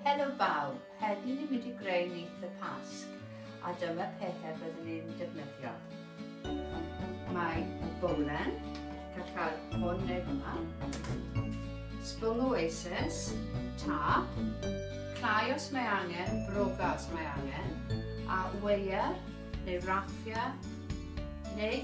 Helo bawb, heddi ni'n mynd i greu nyth y Pasg a dyma pethau byddwn ni'n defnyddio. Mae y bowlen, gall cael hwn neu hwnna, sbwng oasis, tap, clai os mae angen, broga os mae angen, a weir neu raffiau neu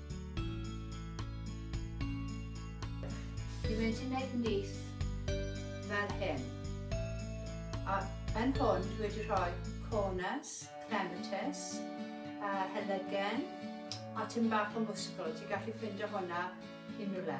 Dwi wedi neud nyth fel hyn. A yn hwn dwi wedi rhoi corners, clematis, a helygen, a tym bach o mwsgl. Ti'n gallu ffindio hwnna unrywle.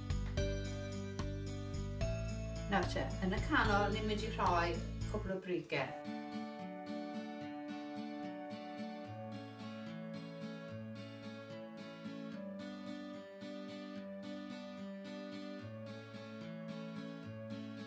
Nawr te, yn y canol ni'n mynd i rhoi cwbl o brige.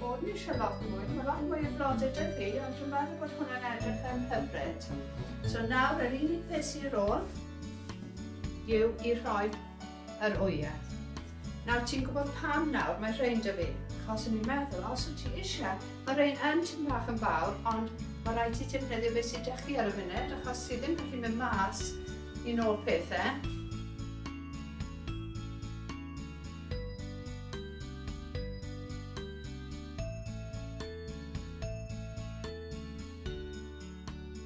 bod ni eisiau lot mwy, mae lot mwy o flodau dy fi, ond dwi'n meddwl bod hwnna'n edrych yn hyfryd. So nawr yr unig beth sy'n ôl yw i rhoi yr wyau. Nawr ti'n gwybod pam nawr mae rhein da fi. Achos o'n i'n meddwl os wyt ti eisiau, mae rhein yn tipyn bach yn fawr ond mae rhaid ti defnyddio beth sydd da chi ar y funud achos ti ddim gallu mynd mas i nôl pethau.